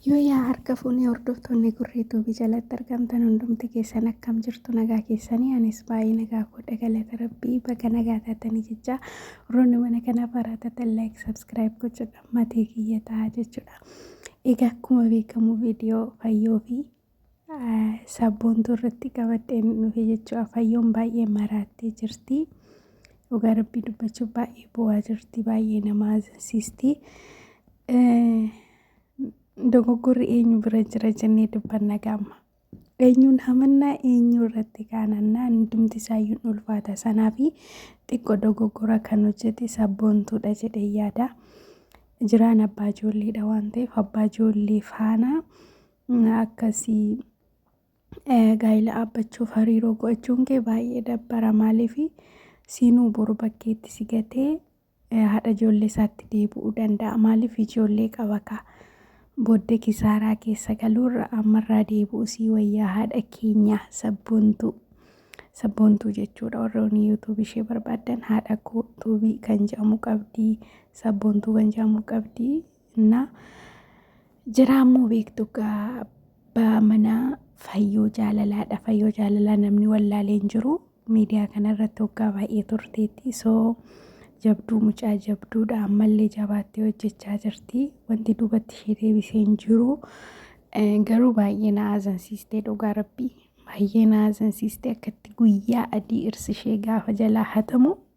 Yooyaa harka fuunee hordoftoonni gurree tuubii jalatti argamtan hundumti keessan akkam jirtu nagaa keessanii anis baay'ee nagaa koodha galata rabbii baga nagaa taatanii jechaa warroonni mana kanaaf haaraa taatan laayik sabskiraayib gochuudha matii kiyya ta'a jechuudha. Egaa akkuma beekamu viidiyoo fayyoo fi Sabboontuu irratti qabadheen dhufe jechuudha. Fayyoon baay'ee maraattee jirti. Dhugaa rabbii dubbachuuf baay'ee bu'aa jirti. Baay'ee nama azinsistii. Dogoggorri eenyu bira jira jennee dubbanna gaamma. Eenyuun hamannaa eenyu irratti kaanannaa hundumti isaayyuun ulfaata. Sanaa fi xiqqoo dogoggora kan hojjete sabboontuudha jedhee yaada. Jiraan abbaa ijoolleedha waan ta'eef abbaa ijoollee faana akkasii gaa'ila dhaabbachuuf hariiroo go'achuun kee baay'ee dabbara maaliif siinuu boru bakkeetti si gatee haadha ijoollee isaatti deebi'uu danda'a maaliif ijoollee qaba kaa booddee kisaaraa keessa galuurra ammarraa deebi'u sii wayyaa haadha keenya sabboontuu sabboontuu jechuudha warroonni yuutuubii ishee barbaadan haadha koo tuubii kan jedhamu qabdi sabboontuu kan jedhamu qabdi እና jiraammoo beektu egaa abbaa manaa fayyoo jaalalaadha fayyoo jaalalaa namni wallaalee hin jiru miidiyaa kanarratti waggaa baay'ee turteetti soo jabduu mucaa jabduudha ammallee jabaattee hojjechaa jirti wanti duubatti ishee deebisee hin jiru Eh, garuu baay'ee na aazansiistee dhugaa rabbii baay'ee na aazansiistee akkatti guyyaa adii irsi ishee gaafa jalaa hatamu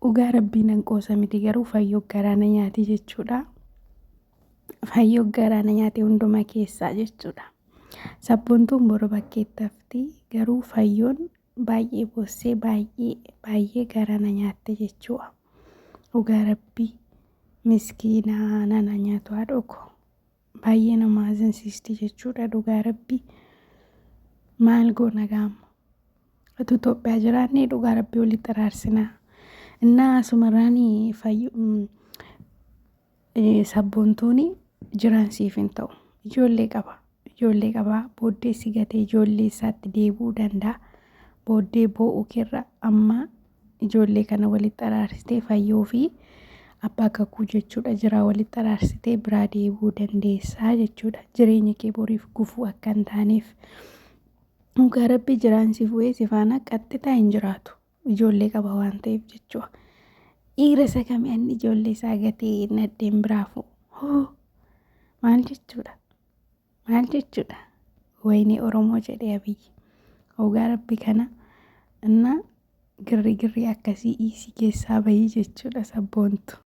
Dhugaa rabbii nan qoosa miti garuu fayyoo garaa na nyaati jechuudha. Fayyoo garaa na nyaate hundumaa keessaa jechuudha. Sabboontuun boru bakkeetti hafti garuu fayyoon baay'ee boossee baay'ee baay'ee garaa na nyaatte jechuudha. Dhugaa rabbii miskiinaa nana nyaatu haadhoo koo. Baay'ee nama azansiisti jechuudha dhugaa rabbi maal goona gaamma utuu Itoophiyaa jiraannee dhugaa rabbi walitti araarsinaa innaa asumarraan fayyu sabboontooni jiraan siif hin ta'u ijoollee qaba ijoollee qabaa booddee si gatee ijoollee isaatti deebi'uu danda'a booddee boo'uu keerra amma ijoollee kana walitti araarsitee fayyoo fi abbaa kakuu jechuudha jiraa walitti araarsitee biraa deebuu dandeessaa jechuudha jireenya kee boriif gufuu akka hin taaneef dhugaa rabbi jiraan si fu'ee si faana qaxxitaa hin jiraatu ijoollee qaba waan ta'eef jechuudha dhiira isa kami anni ijoollee isaa gatee nadheen biraa fu'u maal jechuudha Maal jechuudha? Wayinee Oromoo jedhee Abiyyi. Ogaa rabbi kana innaa girri girri akkasii iisii keessaa bahii jechuudha sabboontu.